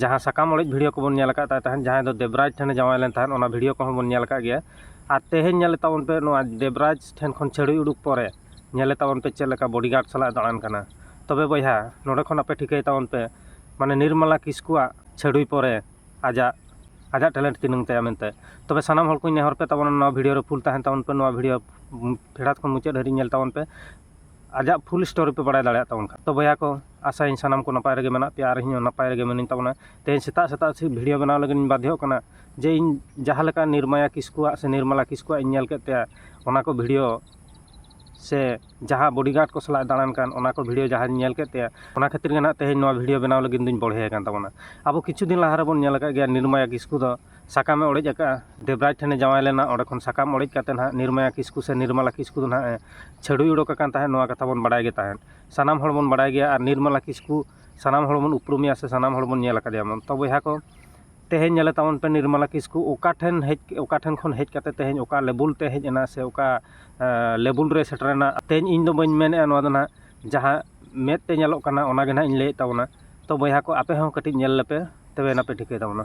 ᱡᱟᱦᱟᱸ ᱥᱟᱠᱟᱢ ᱚᱲᱮᱡ ᱵᱷᱤᱰᱤᱭᱳ ᱠᱚᱵᱚᱱ ᱧᱮᱞ ᱟᱠᱟᱫ ᱛᱟᱭ ᱛᱟᱦᱮᱸᱫ ᱡᱟᱦᱟᱸᱭ ᱫᱚ ᱫᱮᱵᱽᱨᱟᱡᱽ ᱴᱷᱮᱱᱮ ᱡᱟᱶᱟᱭ ᱞᱮᱱ ᱛᱟᱦᱮᱸᱫ ᱚᱱᱟ ᱵᱷᱤᱰᱤᱭᱳ ᱠᱚᱦᱚᱸ ᱵᱚᱱ ᱧᱮᱞ ᱟᱠᱟᱫ ᱜᱮᱭᱟ ᱟᱨ ᱛᱮᱦᱮᱧ ᱧᱮᱞᱮᱫ ᱛᱟᱵᱚᱱ ᱯᱮ ᱱᱚᱣᱟ ᱫᱮᱵᱽᱨᱟᱡᱽ ᱴᱷᱮᱱ ᱠᱷᱚᱱ ᱪᱷᱟᱹᱲᱩᱭ ᱩᱰᱩᱠ ᱯᱚᱨᱮ ᱧᱮᱞᱮᱫ ᱛᱟᱵᱚᱱ ᱯᱮ ᱪᱮᱫ ᱞᱮᱠᱟ ᱵᱚᱰᱤ ᱜᱟᱨᱰ ᱥᱟᱞᱟᱜ ᱮ ᱫᱟᱬᱟᱱ ᱠᱟᱱᱟ ᱛᱚᱵᱮ ᱵᱚᱭᱦᱟ ᱱᱚᱰᱮ ᱠᱷᱚᱱ ᱟᱯᱮ ᱴᱷᱤᱠᱟᱹᱭ ᱛᱟᱵᱚᱱ ᱯᱮ ᱢᱟᱱᱮ ᱱᱤᱨᱢᱟᱞᱟ ᱠᱤᱥᱠᱩᱣᱟᱜ ᱪᱷᱟᱹᱲᱩᱭ ᱯᱚᱨᱮ ᱟᱡᱟᱜ ᱟᱡᱟᱜ ᱴᱮᱞᱮᱱᱴ ᱛᱤᱱᱟᱹᱝ ᱛᱟᱭᱟ ᱢᱮᱱᱛᱮ ᱛᱚᱵᱮ ᱥᱟᱱᱟᱢ ᱦᱚᱲ ᱠᱚᱧ ᱱᱮᱦᱚᱨ ᱯᱮ ᱛᱟᱵᱚᱱᱟ ᱱᱚᱣᱟ ᱵᱷᱤᱰᱤᱭᱳ ᱨᱮ ᱯᱷᱩᱞ ᱛᱟᱦᱮᱱ ᱛᱟᱵᱚᱱ ᱯᱮ ᱱᱚᱣᱟ ᱵᱷᱤᱰᱤᱭᱳ ᱯᱷᱮᱰᱟᱛ ᱠᱷᱚᱱ ᱢᱩᱪᱟᱹᱫ ᱫᱷᱟᱹᱨᱤᱡ ᱧᱮᱞ ᱛᱟᱵᱚᱱ ᱯᱮ ᱟᱡᱟᱜ ᱯᱷᱩᱞ ᱥᱴᱳᱨᱤ ᱯᱮ ᱵᱟᱲᱟᱭ ᱫᱟᱲᱮᱭᱟᱜ ᱛᱟᱵᱚᱱ ᱠᱷᱟᱱ ᱛᱚ ᱵᱚᱭᱦᱟ ᱠᱚ ᱟᱥᱟᱭᱟᱹᱧ ᱥᱟᱱᱟᱢ ᱠᱚ ᱱᱟᱯᱟᱭ ᱨᱮᱜᱮ ᱢᱮᱱᱟᱜ ᱯᱮᱭᱟ ᱟᱨ ᱤᱧ ᱦᱚᱸ ᱱᱟᱯᱟᱭ ᱨᱮᱜᱮ ᱢᱤᱱᱟᱹᱧ ᱛᱟᱵᱚᱱᱟ ᱛᱮᱦᱮᱧ ᱥᱮᱛᱟᱜ ᱥᱮᱛᱟᱜ ᱵᱷᱤᱰᱭᱳ ᱵᱮᱱᱟᱣ ᱞᱟᱹᱜᱤᱫ ᱤᱧ ᱵᱟᱫᱽᱫᱷᱚᱜ ᱠᱟᱱᱟ ᱡᱮ ᱤᱧ ᱡᱟᱦᱟᱸ ᱞᱮᱠᱟ ᱱᱤᱨᱢᱟᱭᱟ ᱠᱤᱥᱠᱩᱣᱟᱜ ᱥᱮ ᱱᱤᱨᱢᱚᱞᱟ ᱠᱤᱥᱠᱩᱣᱟᱜ ᱤᱧ ᱧᱮᱞ ᱠᱮᱫ ᱛᱟᱭᱟ ᱚᱱᱟ ᱠᱚ ᱵᱷᱤᱰᱭᱳ ᱥᱮ ᱡᱟᱦᱟᱸ ᱵᱚᱰᱤ ᱜᱟᱨᱰ ᱠᱚ ᱥᱟᱞᱟᱜ ᱮ ᱫᱟᱬᱟᱱ ᱠᱟᱱ ᱚᱱᱟ ᱠᱚ ᱵᱷᱤᱰᱭᱳ ᱡᱟᱦᱟᱸᱧ ᱧᱮᱞ ᱠᱮᱫ ᱛᱟᱭᱟ ᱚᱱᱟ ᱠᱷᱟᱹᱛᱤᱨ ᱜᱮ ᱦᱟᱸᱜ ᱛᱮᱦᱮᱧ ᱱᱚᱣᱟ ᱵᱷᱤᱰᱭᱳ ᱵᱮᱱᱟᱣ ᱞᱟᱹᱜᱤᱫ ᱫᱚᱧ ᱵᱚᱲᱦᱮ ᱟᱠᱟᱱ ᱛᱟᱵᱚᱱᱟ ᱟᱵᱚ ᱠᱤᱪᱷᱩ ᱫᱤᱱ ᱞᱟᱦᱟ ᱨᱮᱵᱚᱱ ᱧᱮᱞ ᱟᱠᱟᱫ ᱜᱮᱭᱟ ᱱᱤᱨᱢᱟᱭᱟ ᱠᱤᱥᱠᱩ ᱫᱚ ᱥᱟᱠᱟᱢᱮ ᱚᱲᱮᱡ ᱟᱠᱟᱫᱼᱟ ᱫᱮᱵᱽᱨᱟᱡᱽ ᱴᱷᱮᱱᱮ ᱡᱟᱶᱟᱭ ᱞᱮᱱᱟ ᱚᱸᱰᱮ ᱠᱷᱚᱱ ᱥᱟᱠᱟᱢ ᱚᱲᱮᱡ ᱠᱟᱛᱮᱫ ᱦᱟᱸᱜ ᱱᱤᱨᱢᱟᱭᱟ ᱠᱤᱥᱠᱩ ᱥᱮ ᱱᱤᱨᱢᱟᱞᱟ ᱠᱤᱥᱠᱩ ᱫᱚ ᱦᱟᱸᱜ ᱮ ᱪᱷᱟᱹᱰᱩᱭ ᱚᱰᱚᱠ ᱟᱠᱟᱱ ᱛᱟᱦᱮᱸᱫ ᱱᱚᱣᱟ ᱠᱟᱛᱷᱟ ᱵᱚᱱ ᱵᱟᱲᱟᱭ ᱜᱮ ᱛᱟᱦᱮᱸᱫ ᱥᱟᱱᱟᱢ ᱦᱚᱲ ᱵᱚᱱ ᱵᱟᱲᱟᱭ ᱜᱮᱭᱟ ᱟᱨ ᱱᱤᱨᱢᱟᱞᱟ ᱠᱤᱥᱠᱩ ᱥᱟᱱᱟᱢ ᱦᱚᱲ ᱵᱚᱱ ᱩᱯᱨᱩᱢᱮᱭᱟ ᱥᱮ ᱥᱟᱱᱟᱢ ᱦᱚᱲ ᱵᱚᱱ ᱧᱮᱞ ᱠᱟᱫᱮᱭᱟ ᱵᱚᱱ ᱛᱚ ᱵᱚᱭᱦᱟ ᱠᱚ ᱛᱮᱦᱮᱧ ᱧᱮᱞᱮ ᱛᱟᱵᱚᱱ ᱯᱮ ᱱᱤᱨᱢᱟᱞᱟ ᱠᱤᱥᱠᱩ ᱚᱠᱟ ᱴᱷᱮᱱ ᱦᱮᱡ ᱚᱠᱟ ᱴᱷᱮᱱ ᱠᱷᱚᱱ ᱦᱮᱡ ᱠᱟᱛᱮᱫ ᱛᱮᱦᱮᱧ ᱚᱠᱟ ᱞᱮᱵᱮᱞ ᱛᱮ ᱦᱮᱡ ᱮᱱᱟ ᱥᱮ ᱚᱠᱟ ᱞᱮᱵᱮᱞ ᱨᱮ ᱥᱮᱴᱮᱨᱮᱱᱟ ᱛᱮᱦᱮᱧ ᱤᱧ ᱫᱚ ᱵᱟᱹᱧ ᱢᱮᱱᱮᱫᱼᱟ ᱱᱚᱣᱟ ᱫᱚ ᱦᱟᱸᱜ ᱡᱟᱦᱟᱸ ᱢᱮᱫ ᱛᱮ ᱧᱮᱞᱚᱜ ᱠᱟᱱᱟ ᱚᱱᱟᱜᱮ ᱦᱟᱸᱜ ᱤᱧ ᱞᱟᱹᱭᱮᱫ ᱛᱟᱵᱚᱱᱟ ᱛᱚ ᱵᱚᱭᱦᱟ ᱠᱚ ᱟᱯᱮ ᱦᱚᱸ ᱠᱟᱹᱴᱤᱡ ᱧᱮᱞ ᱞᱮᱯᱮ ᱛᱚᱵᱮ ᱟᱱᱟᱜ ᱯᱮ ᱴᱷᱤᱠᱟᱹᱭ ᱛᱟᱵᱚᱱᱟ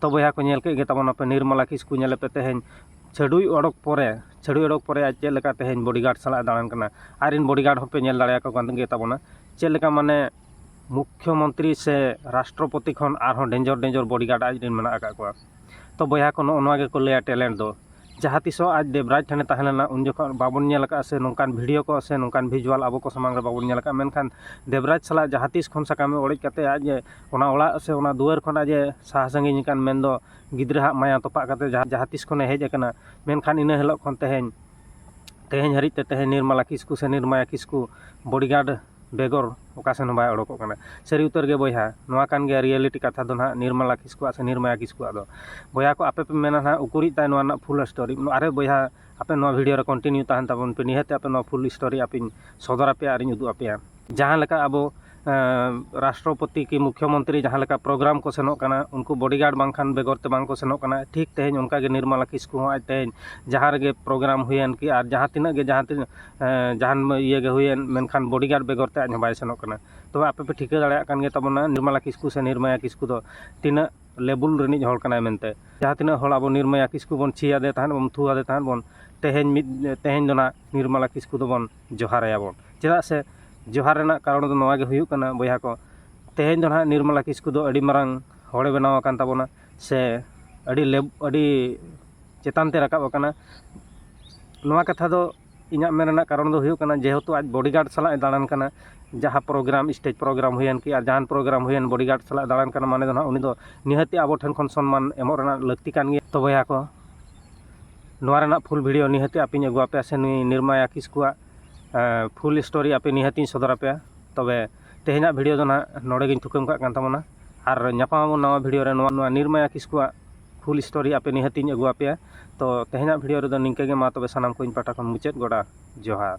ᱛᱚ ᱵᱚᱭᱦᱟ ᱠᱚ ᱧᱮᱞ ᱠᱮᱫ ᱜᱮ ᱛᱟᱵᱚᱱ ᱟᱯᱮ ᱱᱤᱨᱢᱚᱞᱟ ᱠᱤᱥᱠᱩ ᱧᱮᱞᱮ ᱯᱮ ᱛᱮᱦᱮᱧ ᱪᱷᱟᱹᱰᱩᱭ ᱚᱰᱚᱠ ᱯᱚᱨᱮ ᱪᱷᱟᱹᱰᱩᱭ ᱚᱰᱚᱠ ᱯᱚᱨᱮ ᱟᱡ ᱪᱮᱫ ᱞᱮᱠᱟ ᱛᱮᱦᱮᱧ ᱵᱚᱰᱤᱜᱟᱨᱰ ᱥᱟᱞᱟᱜ ᱫᱟᱬᱟᱱ ᱠᱟᱱᱟ ᱟᱡ ᱨᱮᱱ ᱵᱚᱰᱤᱜᱟᱨᱰ ᱦᱚᱸᱯᱮ ᱧᱮᱞ ᱫᱟᱲᱮᱭᱟᱠᱚ ᱠᱟᱱ ᱜᱮ ᱛᱟᱵᱚᱱᱟ ᱪᱮᱫ ᱞᱮᱠᱟ ᱢᱟᱱᱮ ᱢᱩᱠᱷᱭᱚ ᱢᱚᱱᱛᱨᱤ ᱥᱮ ᱨᱟᱥᱴᱨᱚᱯᱚᱛᱤ ᱠᱷᱚᱱ ᱟᱨᱦᱚᱸ ᱰᱮᱱᱡᱚᱨ ᱰᱮᱱᱡᱚᱨ ᱵᱚᱰᱤᱜᱟᱨᱰ ᱟᱡ ᱨᱮᱱ ᱢᱮᱱᱟᱜ ᱟᱠᱟᱫ ᱠᱚᱣᱟ ᱛᱚ ᱵᱚᱭᱦᱟ ᱠᱚ ᱱᱚᱜᱼᱚ ᱱᱚᱣᱟ ᱜᱮᱠᱚ ᱞᱟᱹᱭᱟ ᱴᱮᱞᱮᱱᱴ ᱫᱚ ᱡᱟᱦᱟᱸ ᱛᱤᱥ ᱦᱚᱸ ᱟᱡ ᱫᱮᱵᱽᱨᱟᱡᱽ ᱴᱷᱮᱱᱮ ᱛᱟᱦᱮᱸ ᱞᱮᱱᱟ ᱩᱱ ᱡᱚᱠᱷᱚᱱ ᱵᱟᱵᱚᱱ ᱧᱮᱞ ᱠᱟᱜᱼᱟ ᱥᱮ ᱱᱚᱝᱠᱟᱱ ᱵᱷᱤᱰᱭᱳ ᱠᱚ ᱥᱮ ᱱᱚᱝᱠᱟᱱ ᱵᱷᱤᱡᱩᱣᱟᱞ ᱟᱵᱚ ᱠᱚ ᱥᱟᱢᱟᱝ ᱨᱮ ᱵᱟᱵᱚᱱ ᱧᱮᱞ ᱠᱟᱜᱼᱟ ᱢᱮᱱᱠᱷᱟᱱ ᱫᱮᱵᱽᱨᱟᱡᱽ ᱥᱟᱞᱟᱜ ᱡᱟᱦᱟᱸ ᱛᱤᱥ ᱠᱷᱚᱱ ᱥᱟᱠᱟᱢᱮ ᱚᱲᱮᱡ ᱠᱟᱛᱮᱫ ᱟᱡ ᱮ ᱚᱱᱟ ᱚᱲᱟᱜ ᱥᱮ ᱚᱱᱟ ᱫᱩᱣᱟᱹᱨ ᱠᱷᱚᱱ ᱟᱡ ᱮ ᱥᱟᱦᱟ ᱥᱟᱺᱜᱤᱧ ᱟᱠᱟᱱ ᱢᱮᱱ ᱫᱚ ᱜᱤᱫᱽᱨᱟᱹ ᱦᱟᱜ ᱢᱟᱭᱟ ᱛᱚᱯᱟᱜ ᱠᱟᱛᱮᱫ ᱡᱟᱦᱟᱸ ᱡᱟᱦᱟᱸ ᱛᱤᱥ ᱠᱷᱚᱱᱮ ᱦᱮᱡ ᱠᱟᱱᱟ ᱢᱮᱱᱠᱷᱟᱱ ᱤᱱᱟᱹ ᱦᱤᱞᱳᱜ ᱠᱷᱚᱱ ᱛᱮᱦᱮᱧ ᱛᱮᱦᱮᱧ ᱦᱟᱹᱨᱤᱡ ᱛᱮ ᱛᱮᱦᱮᱧ ᱱᱤᱨᱢᱟᱞᱟ ᱠᱤᱥᱠᱩ ᱥᱮ ᱱᱤᱨᱢᱟᱭᱟ ᱠᱤᱥᱠᱩ ᱵᱚᱰᱤᱜᱟᱨᱰ ᱵᱮᱜᱚᱨ ᱚᱠᱟ ᱥᱮᱱ ᱦᱚᱸ ᱵᱟᱭ ᱚᱰᱚᱠᱚᱜ ᱠᱟᱱᱟ ᱥᱟᱹᱨᱤ ᱩᱛᱟᱹᱨ ᱜᱮ ᱵᱚᱭᱦᱟ ᱱᱚᱣᱟ ᱠᱟᱱ ᱜᱮᱭᱟ ᱨᱤᱭᱮᱞᱤᱴᱤ ᱠᱟᱛᱷᱟ ᱫᱚ ᱦᱟᱸᱜ ᱱᱤᱨᱢᱟᱞᱟ ᱠᱤᱥᱠᱩ ᱟᱜ ᱥᱮ ᱱᱤᱨᱢᱟᱭᱟ ᱠᱤᱥᱠᱩ ᱟᱜ ᱫᱚ ᱵᱚᱭᱦᱟ ᱠᱚ ᱟᱯᱮ ᱯᱮ ᱢᱮᱱᱟ ᱦᱟᱸᱜ ᱩᱠᱩᱨᱤᱡ ᱛᱟᱭ ᱱᱚᱣᱟ ᱨᱮᱱᱟᱜ ᱯᱷᱩᱞ ᱥᱴᱳᱨᱤ ᱟᱨᱮ ᱵᱚᱭᱦᱟ ᱟᱯᱮ ᱱᱚᱣᱟ ᱵᱷᱤᱰᱭᱳ ᱨᱮ ᱠᱚᱱᱴᱤᱱᱤᱭᱩ ᱛᱟᱦᱮᱱ ᱛᱟᱵᱚᱱ ᱯᱮ ᱱᱤᱦᱟᱹᱛ ᱟᱯᱮ ᱱᱚᱣᱟ ᱯᱷᱩᱞ ᱥᱴᱳᱨᱤ ᱟᱯᱮᱧ ᱥᱚᱫᱚᱨ ᱟᱯᱮᱭᱟ ᱟᱨᱤᱧ ᱩᱫᱩᱜ ᱟᱯᱮᱭᱟ ᱡᱟᱦᱟᱸ ᱞᱮᱠᱟ ᱟᱵᱚ ᱨᱟᱥᱴᱨᱚᱯᱚᱛᱤ ᱠᱤ ᱢᱩᱠᱠᱷᱚ ᱢᱚᱱᱛᱨᱤ ᱡᱟᱦᱟᱸ ᱞᱮᱠᱟ ᱯᱨᱳᱜᱨᱟᱢ ᱠᱚ ᱥᱮᱱᱚᱜ ᱠᱟᱱᱟ ᱩᱱᱠᱩ ᱵᱚᱰᱤ ᱜᱟᱨᱰ ᱵᱟᱝᱠᱷᱟᱱ ᱵᱮᱜᱚᱨ ᱛᱮ ᱵᱟᱝᱠᱚ ᱥᱮᱱᱚᱜ ᱠᱟᱱᱟ ᱴᱷᱤᱠ ᱛᱮᱦᱮᱧ ᱚᱱᱠᱟᱜᱮ ᱱᱤᱨᱢᱚᱞᱟ ᱠᱤᱥᱠᱩ ᱦᱚᱸ ᱟᱡ ᱛᱮᱦᱮᱧ ᱡᱟᱦᱟᱸ ᱨᱮᱜᱮ ᱯᱨᱳᱜᱨᱟᱢ ᱦᱩᱭᱮᱱ ᱠᱤ ᱟᱨ ᱡᱟᱦᱟᱸ ᱛᱤᱱᱟᱹᱜ ᱜᱮ ᱡᱟᱦᱟᱸ ᱛᱤᱱᱟᱹᱜ ᱡᱟᱦᱟᱱ ᱤᱭᱟᱹᱜᱮ ᱦᱩᱭᱮᱱ ᱢᱮᱱᱠᱷᱟᱱ ᱵᱚᱰᱤ ᱜᱟᱨᱰ ᱵᱮᱜᱚᱨ ᱛᱮ ᱟᱡ ᱦᱚᱸ ᱵᱟᱭ ᱥᱮᱱᱚᱜ ᱠᱟᱱᱟ ᱛᱚᱵᱮ ᱟᱯᱮ ᱯᱮ ᱴᱷᱤᱠᱟᱹ ᱫᱟᱲᱮᱭᱟᱜ ᱠᱟᱱ ᱜᱮᱛᱟᱵᱚᱱᱟ ᱱᱤᱨᱢᱚᱞᱟ ᱠᱤᱥᱠᱩ ᱥᱮ ᱱᱤᱨᱢᱟᱭᱟ ᱠᱤᱥᱠᱩ ᱫᱚ ᱛᱤᱱᱟᱹᱜ ᱞᱮᱵᱩᱞ ᱨᱤᱱᱤᱡ ᱦᱚᱲ ᱠᱟᱱᱟᱭ ᱢᱮᱱᱛᱮ ᱡᱟᱦᱟᱸ ᱛᱤᱱᱟᱹᱜ ᱦᱚᱲ ᱟᱵᱚ ᱱᱤᱨᱢᱟᱭᱟ ᱠᱤᱥᱠᱩ ᱵᱚᱱ ᱪᱷᱤ ᱟᱫᱮ ᱛᱟᱦᱮᱸᱫ ᱵᱚᱱ ᱛᱷᱩ ᱟᱫᱮ ᱛᱟᱦᱮᱸᱫ ᱵᱚᱱ ᱛᱮᱦᱮᱧ ᱢᱤᱫ ᱛᱮᱦᱮᱧ ᱫᱚ ᱱᱟᱜ ᱱᱤᱨᱢᱚᱞᱟ ᱠᱤᱥᱠᱩ ᱫᱚᱵᱚᱱ ᱡᱚᱦᱟᱨ ᱟᱭᱟ ᱵᱚᱱ ᱪᱮᱫᱟᱜ ᱥᱮ ᱡᱚᱦᱟᱨ ᱨᱮᱱᱟᱜ ᱠᱟᱨᱚᱱ ᱫᱚ ᱱᱚᱣᱟᱜᱮ ᱦᱩᱭᱩᱜ ᱠᱟᱱᱟ ᱵᱚᱭᱦᱟ ᱠᱚ ᱛᱮᱦᱮᱧ ᱫᱚ ᱱᱟᱜ ᱱᱤᱨᱢᱚᱞᱟ ᱠᱤᱥᱠᱩ ᱫᱚ ᱟᱹᱰᱤ ᱢᱟᱨᱟᱝ ᱦᱚᱲᱮ ᱵᱮᱱᱟᱣ ᱟᱠᱟᱱ ᱛᱟᱵᱚᱱᱟ ᱥᱮ ᱟᱹᱰᱤ ᱞᱮᱵ ᱟᱹᱰᱤ ᱪᱮᱛᱟᱱ ᱛᱮ ᱨᱟᱠᱟᱵ ᱟᱠᱟᱱᱟ ᱱᱚᱣᱟ ᱠᱟᱛᱷᱟ ᱫᱚ ᱤᱧᱟᱹᱜ ᱢᱮᱱ ᱨᱮᱱᱟᱜ ᱠᱟᱨᱚᱱ ᱫᱚ ᱦᱩᱭᱩᱜ ᱠᱟᱱᱟ ᱡᱮᱦᱮᱛᱩ ᱟᱡ ᱵᱚᱰᱤ ᱜᱟᱨᱰ ᱥᱟᱞᱟᱜ ᱮ ᱫᱟᱬᱟᱱ ᱠᱟᱱᱟ ᱡᱟᱦᱟᱸ ᱯᱨᱳᱜᱨᱟᱢ ᱥᱴᱮᱡᱽ ᱯᱨᱳᱜᱨᱟᱢ ᱦᱩᱭᱮᱱ ᱠᱤ ᱟᱨ ᱡᱟᱦᱟᱱ ᱯᱨᱳᱜᱨᱟᱢ ᱦᱩᱭᱮᱱ ᱵᱚᱰᱤ ᱜᱟᱨᱰ ᱥᱟᱞᱟᱜ ᱮ ᱫᱟᱬᱟᱱ ᱠᱟᱱᱟ ᱢᱟᱱᱮ ᱫᱚ ᱦᱟᱸᱜ ᱩᱱᱤ ᱫᱚ ᱱᱤᱦᱟᱹᱛ ᱜᱮ ᱟᱵᱚ ᱴᱷᱮᱱ ᱠᱷᱚᱱ ᱥᱚᱱᱢᱟᱱ ᱮᱢᱚᱜ ᱨᱮᱱᱟᱜ ᱞᱟᱹᱠᱛᱤ ᱠᱟᱱ ᱜᱮᱭᱟ ᱛᱚ ᱵᱚᱭᱦᱟ ᱠᱚ ᱱᱚᱣᱟ ᱨᱮᱱᱟᱜ ᱯᱷᱩᱞ ᱵᱷᱤᱰᱭᱳ ᱱᱤᱦᱟᱹᱛ ᱜᱮ ᱟᱯᱮᱧ ᱟᱹᱜᱩ ᱟᱯᱮᱭᱟ ᱥᱮ ᱱᱩᱭ ᱱᱤᱨᱢᱟᱭᱟ ᱠᱤᱥᱠᱩᱣᱟᱜ ᱯᱷᱩᱞ ᱥᱴᱳᱨᱤ ᱟᱯᱮ ᱱᱤᱦᱟᱹᱛ ᱤᱧ ᱥᱚᱫᱚᱨ ᱟᱯᱮᱭᱟ ᱛᱚᱵᱮ ᱛᱮᱦᱮᱧᱟᱜ ᱵᱷᱤᱰᱤᱭᱳ ᱫᱚ ᱱᱟᱦᱟᱜ ᱱᱚᱰᱮ ᱜᱤᱧ ᱛᱷᱩᱠᱟᱹᱢ ᱠᱟᱜ ᱠᱟᱱ ᱛᱟᱵᱚᱱᱟ ᱟᱨ ᱧᱟᱯᱟᱢ ᱟᱵᱚᱱ ᱱᱟᱣᱟ ᱵᱷᱤᱰᱤᱭᱳ ᱨᱮ ᱱᱚᱣᱟ ᱱᱚᱣᱟ ᱱᱤᱨᱢᱟᱭᱟ ᱠᱤᱥᱠᱩᱣᱟᱜ ᱯᱷᱩᱞ ᱥᱴᱳᱨᱤ ᱟᱯᱮ ᱱᱤᱦᱟᱹᱛᱤᱧ ᱟᱹᱜᱩ ᱟᱯᱮᱭᱟ ᱛᱚ ᱛᱮᱦᱮᱧᱟᱜ ᱵᱷᱤᱰᱤᱭᱳ ᱨᱮᱫᱚ ᱱᱤᱝᱠᱟᱹ ᱜᱮ ᱢᱟ ᱛᱚᱵᱮ ᱥᱟᱱᱟᱢ ᱠᱚ ᱤᱧ ᱯᱟᱦᱴᱟ ᱠᱷᱚᱱ ᱢᱩᱪᱟᱹᱫ ᱜᱚᱰᱟ ᱡᱚᱦᱟᱨ